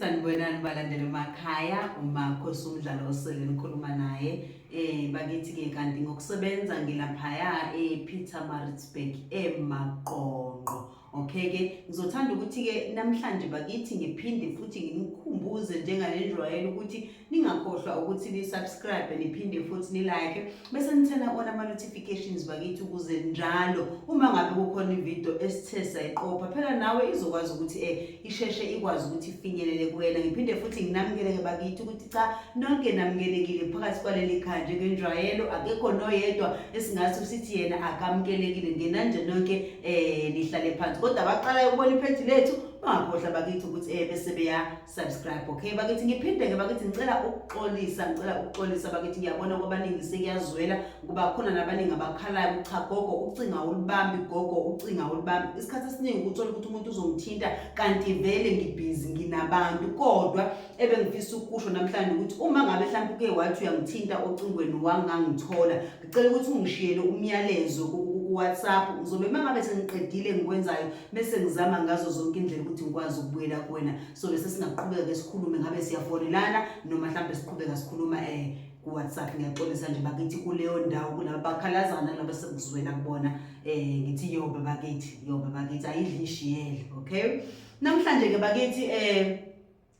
sanibonani balandela emakhaya umakho somdlalo osele nikhuluma naye um bakithi-ke kanti ngokusebenza ngilaphaya e-peter maritzburg emaqonqo Okay ke ngizothanda ukuthi ke namhlanje bakithi ngiphinde futhi nginikhumbuze njengalenjwayelo ukuthi ningakhohlwa ukuthi ni subscribe niphinde futhi ni like bese nithena ona ama notifications bakithi ukuze njalo uma ngabe kukhona ivideo esithe sayiqopha phela nawe izokwazi ukuthi eh isheshe ikwazi ukuthi ifinyelele kuwena ngiphinde futhi nginamukeleke bakithi ukuthi cha nonke namukelekile phakathi kwaleli khaya njengenjwayelo akekho noyedwa esingathi usithi yena akamukelekile ngenanje nonke um nihlale phansi kodwa abaqalayo ukubona iphethi lethu bangakhohlwa bakithi ukuthi um bese beya-subscribe okay bakithi ngiphinde-ke bakithi ngicela ukuxolisa ngicela ukuxolisa bakithi ngiyabona kwabaningi sekuyazwela kuba khona nabaningi abakhalayo ukuthi cha gogo ucinga ulibambi gogo ucinga ulibambi isikhathi esiningi ukuthola ukuthi umuntu uzongithinta kanti vele ngibhizi nginabantu kodwa ebengifisa ukusho namhlanje ukuthi uma ngabe mhlawumbe uke wathi uyangithinta ocingweni wangangithola ngicela ukuthi ungishiyele umyalezo kuwhatsapp uzobe uma ngabe sengiqedile engikwenzayo bese ngizama ngazo zonke indlela ukuthi ngikwazi ukubuyela kuwena so bese singaqhubeka ke sikhulume ngabe siyafonelana noma mhlawumbe siqhubeka sikhuluma um kuwhatsapp ngiyaxolisa nje bakithi kuleyo ndawo kulaba bakhalazana laba sekuzwela kubona um ngithi yoba bakithi yoba bakithi ayidli ishiyele okay namhlanje ke bakithi um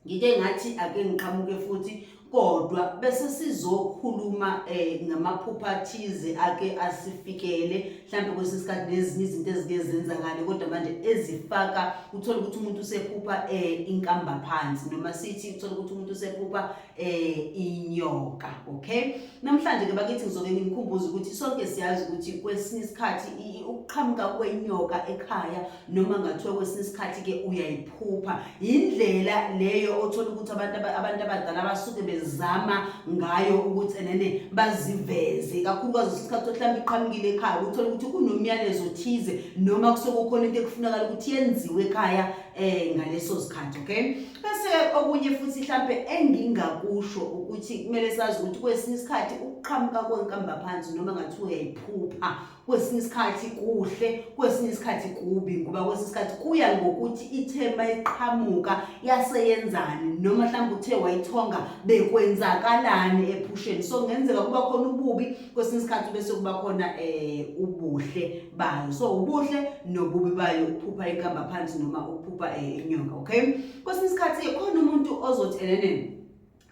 ngike ngathi ake ngiqhamuke futhi kodwa bese sizokhuluma eh ngamaphupha athize ake asifikele mhlawumbe kwesinye isikhathi nezinye izinto ezike zenzakale kodwa manje ezifaka uthola ukuthi umuntu usephupha eh inkamba phansi noma sithi uthola ukuthi umuntu usephupha eh inyoka okay namhlanje ke bakithi ngizoke ngimkhumbuze ukuthi sonke siyazi ukuthi kwesinye isikhathi ukuqhamuka kwenyoka ekhaya noma ngathiwa kwesinye isikhathi ke uyayiphupha indlela leyo othola ukuthi abantu abantu abadala basuke bezama ngayo ukuthi enene baziveze kakhulukazi isikhathi ohlamba iqhamukile ekhaya uthola ukuthi kunomyalezo othize noma kusokukhona into ekufunakala ukuthi yenziwe ekhaya eh ngaleso sikhathi okay bese okunye futhi mhlampe engingakusho ukuthi kumele sazi ukuthi kwesinye isikhathi ukuqhamuka kwenkamba phansi noma ngathi uyayiphupha kwesinye isikhathi kuhle kwesinye isikhathi kubi ngoba kwesinye isikhathi kuya ngokuthi ithemba iqhamuka yaseyenzani noma mhlawumbe uthe wayithonga bekwenzakalani ephusheni so kungenzeka kuba khona ububi kwesinye isikhathi bese kuba khona um ubuhle bayo so ubuhle nobubi bayo ukuphupha ikamba phansi noma ukuphupha eh, inyoka okay kwesinye isikhathi khona umuntu ozothi enenene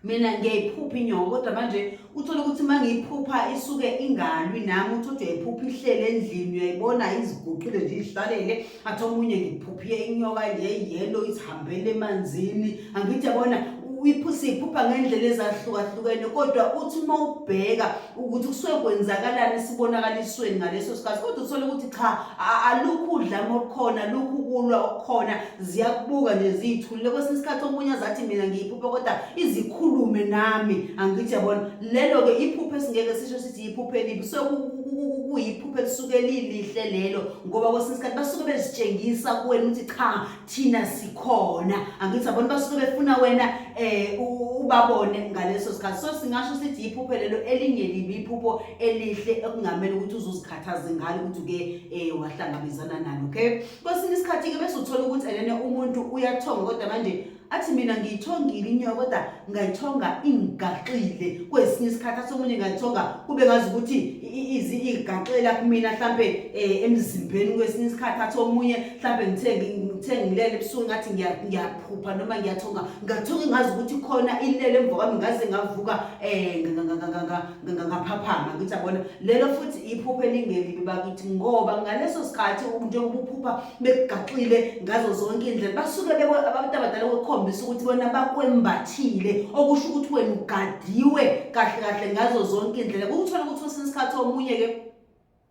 mina ngiyayiphupha inyoka kodwa manje uthole ukuthi uma ngiyiphupha isuke ingalwi nami uthi uthi uyayiphupha ihlele endlini uyayibona iziguqile nje izihlalele athi omunye ngiphuphie inyoka nje yellow isihambele emanzini angithi yabona uyiphusiphupa ngendlela ezahlukahlukene kodwa uthi uma ubheka ukuthi kusuke kwenzakalani sibonakalisweni ngaleso sikhathi kodwa uthole ukuthi cha alukhu udlame olukhona lukhu kulwa okukhona ziyakubuka nje ziyithulile kwesinye isikhathi omunye azathi mina ngiyiphuphe kodwa izikhulume nami angithi yabona lelo-ke iphuphe esingeke sisho sithi yiphuphe elibi so kuyiphuphe elisuke lilihle lelo ngoba kwesinye isikhathi basuke bezitshengisa kuwena ukuthi cha thina sikhona angithi abona basuke befuna wena eh ubabone ngaleso sikhathi so singasho sithi iphupho lelo elinye libi iphupho elihle ekungamele ukuthi uzuzikhathaze ngalo ukuthi uke eh wahlangabezana nalo okay kwesinye isikhathi ke bese uthola ukuthi elene umuntu uyathonga kodwa manje athi mina ngiyithongile inyoka kodwa ngayithonga ingigaxile kwesinye isikhathi athi omunye ngayithonga kube ngazi ukuthi izi igaxela kumina mhlampe eh, emzimbeni kwesinye isikhathi athi omunye mhlawumbe ngithe ngithe ngilele ebusuku ngathi ngiyaphupha noma ngiyathonga ngathonga ngazi ukuthi khona ilele emva kwami ngaze ngavuka um ngaphaphama ngithi abona lelo futhi iphupho elingelibi bakithi ngoba ngaleso sikhathi njengoba uphupha bekugaxile ngazo zonke iy'ndlela basuke abantu abadala kwekhombisa ukuthi bona bakwembathile okusho ukuthi wena ugadiwe kahle kahle ngazo zonke iy'ndlela kukuthola ukuthi kwesinye isikhathi omunye-ke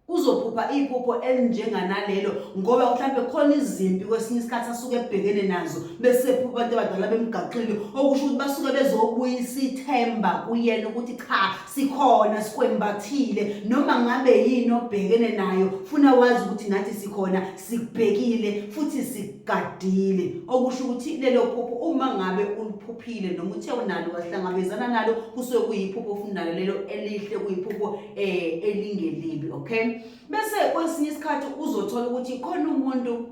uzophupha iphupho elinjenganalelo ngoba mhlawumbe khona izimpi kwesinye isikhathi asuke ebhekene nazo bese phupha abantu abadala bemgaqile okusho ukuthi basuke bezobuyisa ithemba kuyena ukuthi cha sikhona sikwembathile noma ngabe yini obhekene nayo funa wazi ukuthi nathi sikhona sikubhekile futhi sikugadile okusho ukuthi lelo phupho uma ngabe uliphuphile noma uthe unalo wahlangabezana nalo kusuke kuyiphupho ofuna nalo lelo elihle kuyiphupho eh elingelibi okay bese kwesinye isikhathi uzothola ukuthi khona umuntu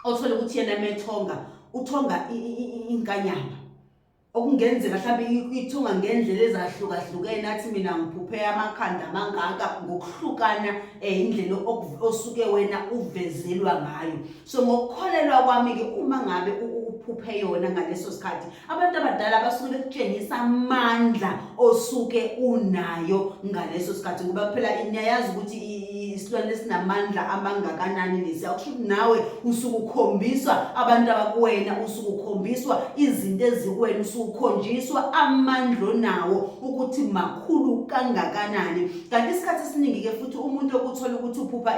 othola ukuthi yena methonga uthonga inkanyamba okungenzeka mhlawumbe ithunga ngendlela ezahlukahlukene athi mina ngiphuphe amakhanda amangaka ngokuhlukana eh indlela osuke wena uvezelwa ngayo so ngokukholelwa kwami ke uma ngabe uphuphe yona ngaleso sikhathi abantu abadala basuke bekutshengisa amandla osuke unayo ngaleso sikhathi ngoba phela niyayazi ukuthi isilwane esinamandla amangakanani lesi akusho ukuthi nawe usuke ukhombiswa abantu abakuwena usuke ukhombiswa izinto ezikuwena usuke ukhonjiswa amandla onawo ukuthi makhulu kangakanani kanti isikhathi esiningi-ke futhi umuntu okuthola ukuthi uphupha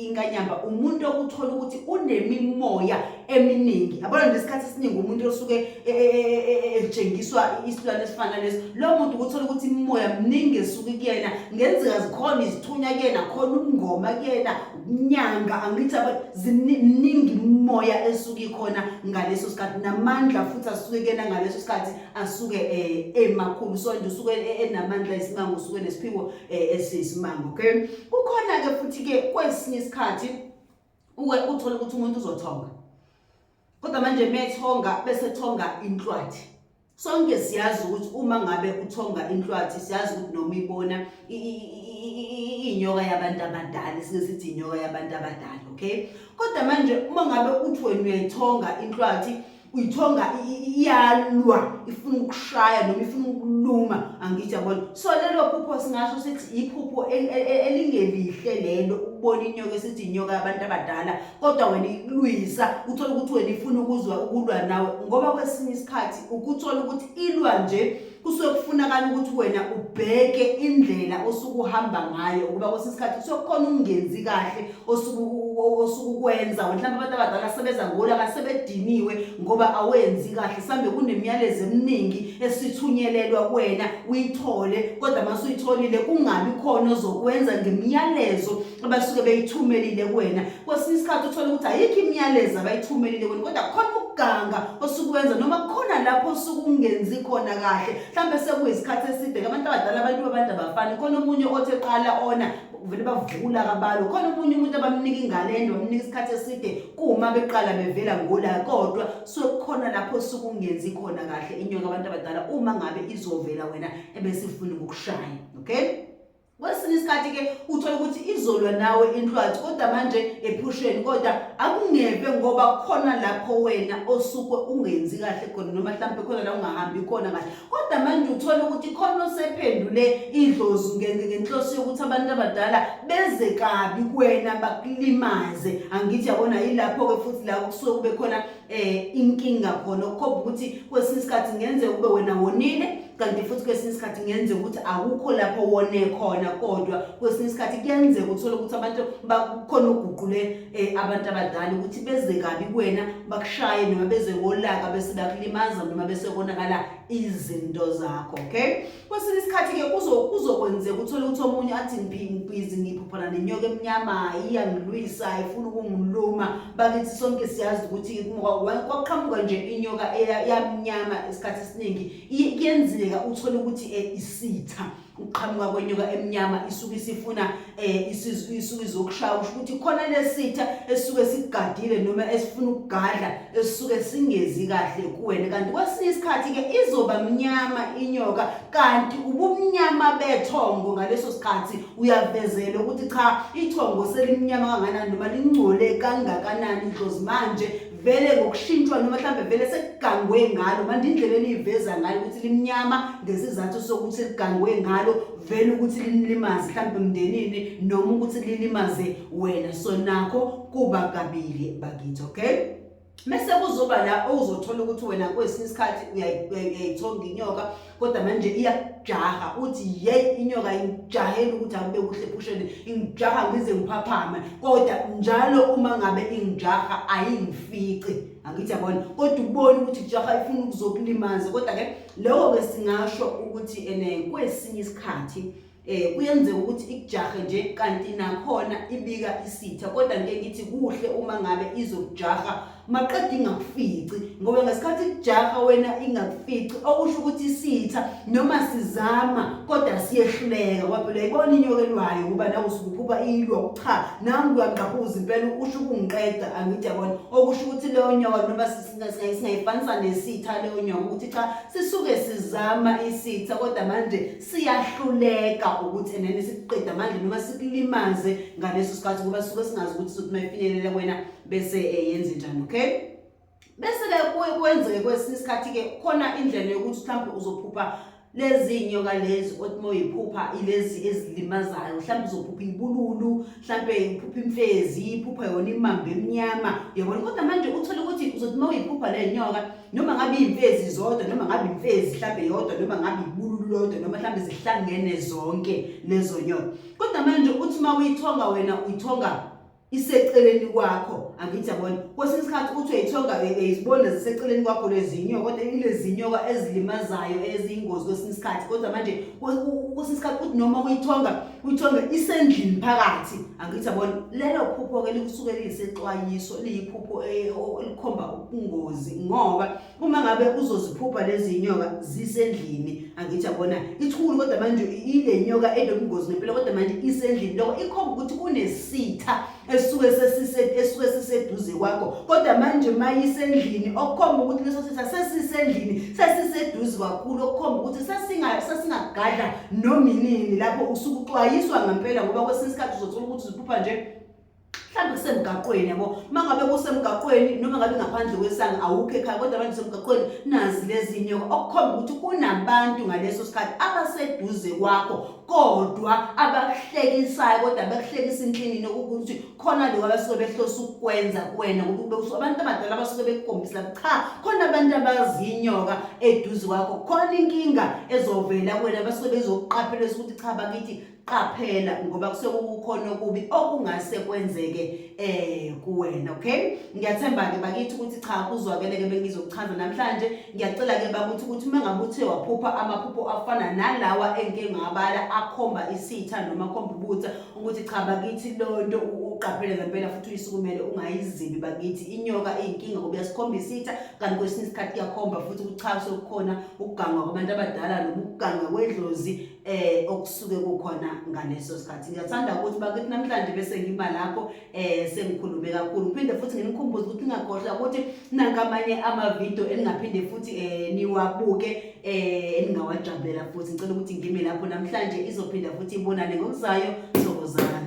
inkanyamba umuntu okuthola ukuthi unemimoya eminingi abona nje isikhathi esiningi umuntu osuke e, e, e, etshengiswa isilwane esifana leso lowo muntu ukuthola ukuthi imimoya mningi esuke kuyena ngenzeka zikhona izithunya kuyena khona umngoma kuyena nyanga angithi ziningi imimoya esuke ikhona ngaleso sikhathi namandla futhi asuke kuyena ngaleso sikhathi asuke emakhulu so nje usuke enamandla isimanga usuke nesiphiwo esiyisimanga okay kukhona-ke futhi-ke kwesinye isikhathi uwe uthole ukuthi umuntu uzothonga kodwa manje methonga bese thonga inhlwathi sonke siyazi ukuthi uma ngabe uthonga inhlwathi siyazi ukuthi noma ibona inyoka yabantu abadala singesithi inyoka yabantu abadala okay kodwa manje uma ngabe uthi wena uyayithonga inhlwathi uyithonga iyalwa ifuna ukushaya noma ifuna ukuluma angithi yabona so lelo phupho singasho sithi iphupho elingelihle lelo ukubona inyoka esithi inyoka yabantu abadala kodwa wena ikulwisa uthole ukuthi wena ifuna ukuzwa ukulwa nawe ngoba kwesinye isikhathi ukuthola ukuthi ilwa nje kusuke kufunakala ukuthi wena ubheke indlela osuke uhamba ngayo ukuba kwesinye isikhathi kusuke kukhona ungenzi kahle osuke ukwenza mhlawumbe abantu abadala sebenza ngolo abasebediniwe ngoba awenzi kahle sambe kunemiyalezo eminingi esithunyelelwa kuwena uyithole kodwa uma usuyitholile kungabi khona ozokwenza ngemiyalezo abasuke beyithumelile kuwena kwesinye isikhathi uthole ukuthi ayikho imiyalezo abayithumelile kuwena kodwa khona ukuganga osukuwenza noma khona lapho osukungenzi khona kahle mhlawumbe sekuyisikhathi eside ke abantu abadala abantu babantu abafani khona omunye othi eqala ona vele bavula kabalo khona omunye umuntu abamnika ingane ende bamnika isikhathi eside kuma beqala bevela ngola kodwa sokukhona lapho sukungenzi khona kahle inyoka abantu abadala uma ngabe izovela wena ebesifuna ukukushaya okay kwesinye isikhathi ke uthola ukuthi izolwa nawe inhlwathi kodwa manje ephusheni kodwa akungeve ngoba khona lapho wena osuke ungenzi kahle khona noma mhlawumbe khona la ungahambi khona kahle kodwa manje uthola ukuthi khona osephendule idlozi ngenhloso yokuthi abantu abadala beze kabi kuwena bakulimaze angithi yabona yilapho-ke futhi la kusuke kube khona eh inkinga khona ukukhomba ukuthi kwesinye isikhathi ngenze ube wena wonile kanti futhi kwesinye isikhathi ngenze ukuthi akukho lapho wone khona kodwa kwesinye isikhathi kuyenzeka uthole ukuthi abantu bakhona uguqule eh, abantu abadala ukuthi beze kabi kuwena bakushaye noma beze ngolaka bese bakulimaza noma bese konakala izinto zakho okay kwesinye isikhathi-ke kuzokwenzeka uthole ukuthi omunye athi ngibhizi ngiphophana nenyoka emnyama iyangilwisa ifuna ukungiluma bakithi sonke siyazi ukuthi kwaqhamuka nje inyoka yamnyama isikhathi esiningi kuyenzeka uthole ukuthi eh, isitha ukuqhamuka kwenyoka emnyama isuke isifuna eh isuke izokushaya usho ukuthi khona lesitha esuke sigadile noma esifuna ukugadla esuke singezi kahle kuwena kanti kwesinye isikhathi ke izoba mnyama inyoka kanti ubumnyama bethongo ngaleso sikhathi uyavezela ukuthi cha ithongo selimnyama kanganani noma lingcole kangakanani idlozi manje vele ngokushintshwa noma mhlawumbe vele sekugangwe ngalo manje indlela eliyiveza ngayo ukuthi limnyama ngesizathu sokuthi ligangwe ngalo vele ukuthi linilimaze mhlawumbe emndenini noma ukuthi lilimaze wena so nakho kuba kabili bakithi okay mese kuzoba la ozothola ukuthi wena kwesinye isikhathi uyayithonga inyoka kodwa manje iyakujaha uthi ye inyoka ingijahela ukuthi akube kuhle phusheni ingijaha ngize ngiphaphame kodwa njalo uma ngabe ingijaha ayingifici angithi yabona kodwa ukubona ukuthi kujaha ifuna ukuzokulimaza kodwa-ke loko-ke singasho ukuthi ene kwesinye isikhathi Eh kuyenzeka ukuthi ikujahe nje kanti nakhona ibika isitha kodwa ngeke ngithi kuhle uma ngabe izokujaha maqede ingakufici ngoba ngesikhathi kujaha wena ingakufici okusho ukuthi isitha noma sizama kodwa siyehluleka kwaphela ibona inyoka elwayo ngoba nawe usukuphupha ilwa cha nami kuyangqabuza impela usho ukungiqeda angithi yabona okusho ukuthi leyo nyoka noma singayifanisa nesitha leyo nyoka ukuthi cha sisuke sizama isitha kodwa manje siyahluleka ukuthi enene sikuqeda manje noma sikulimaze ngaleso sikhathi ngoba suke singazi ukuthi sothi mayifinyelele kwena bese eh, yenze njani okay bese-ke kuye kwenzeke kwesinye isikhathi-ke khona indlela yokuthi mhlawumbe uzophupha lezi nyoka lezi othi uma uyiphupha ilezi ezilimazayo mhlawumbe uzophupha ibululu mhlampe iphupha imfezi iphupha yona imamba emnyama uyabona kodwa manje uthole ukuthi uzothi uma uyiphupha le nyoka noma ngabe iy'mfezi zodwa noma ngabe imfezi mhlampe yodwa noma ngabe ibululu lodwa noma mhlampe zihlangene zonke lezo nyoka kodwa manje uthi uma uyithonga wena uyithonga iseceleni kwakho angithi yabona kwesinye isikhathi uthi uyayithonga uyizibona ziseceleni kwakho lezinyoka kodwa ilezinyoka ezilimazayo eziyingozi kwesinye isikhathi kodwa manje kwesinye isikhathi uthi noma uyithonga Uyithombe isendlini phakathi angithi yabona lelo phupho ke lisuke lisexwayiso liyiphupho eh, elikhomba ubungozi ngoba uma ngabe uzoziphupha lezi nyoka zisendlini angithi yabona ithulu kodwa manje ile nyoka enobungozi ngempela kodwa manje isendlini lokho ikhomba ukuthi kunesitha esuke sesise esuke siseduze kwakho kodwa manje mayisendlini okukhomba ukuthi leso sitha sesisendlini sesiseduze kakhulu okukhomba ukuthi sesinga sesingagadla nominini lapho usuke uxwayiswa ngempela ngoba kwesinye isikhathi uzothola ukuthi uziphupha nje mhlawumbe kusemgaqweni yabo uma ngabe kusemgaqweni noma ngabe ngaphandle kwesanga awukho ekhaya kodwa abantu semgaqweni nazi lezi nyoka okukhomba ukuthi kunabantu ngaleso sikhathi abaseduze kwakho kodwa abakuhlekisayo kodwa bekuhlekisa inhlinini ukuthi khona lokho abasuke behlose ukukwenza kuwena ngoba usuke abantu abadala abasuke bekukhombisa cha khona abantu abazinyoka eduze kwakho khona inkinga ezovela kuwena abasuke bezokuqaphela ukuthi cha bakithi qaphela ngoba kusuke kukhona okubi okungase kwenzeke eh kuwena okay ngiyathemba ke bakithi ukuthi cha kuzwakeleke bengizokuchaza namhlanje ngiyacela-ke bakuthi ukuthi uma ngabe uthe waphupha amaphupho afana nalawa engike ngabala akhomba isitha noma akhomba ubutha ukuthi cha bakithi lo nto uqaphele ngempela futhi uyisukumele ungayizibi bakithi inyoka iyinkinga ngoba uyasikhombisa isitha kanti kwesinye isikhathi kuyakhomba futhi kuchase okukhona ukugangwa kwabantu abadala noma ukugangwa kwedlozi um okusuke kukhona ngaleso sikhathi ngiyathanda ukuthi bakithi namhlanje bese ngima lapho eh sengikhulume kakhulu ngiphinde futhi nginikhumbuze ukuthi ningakhohlwa ukuthi nangamanye amavidiyo eningaphinde futhi eh niwabuke eh eningawajabulela futhi ngicela ukuthi ngime lapho namhlanje izophinda futhi ibonane ngokuzayo sokozana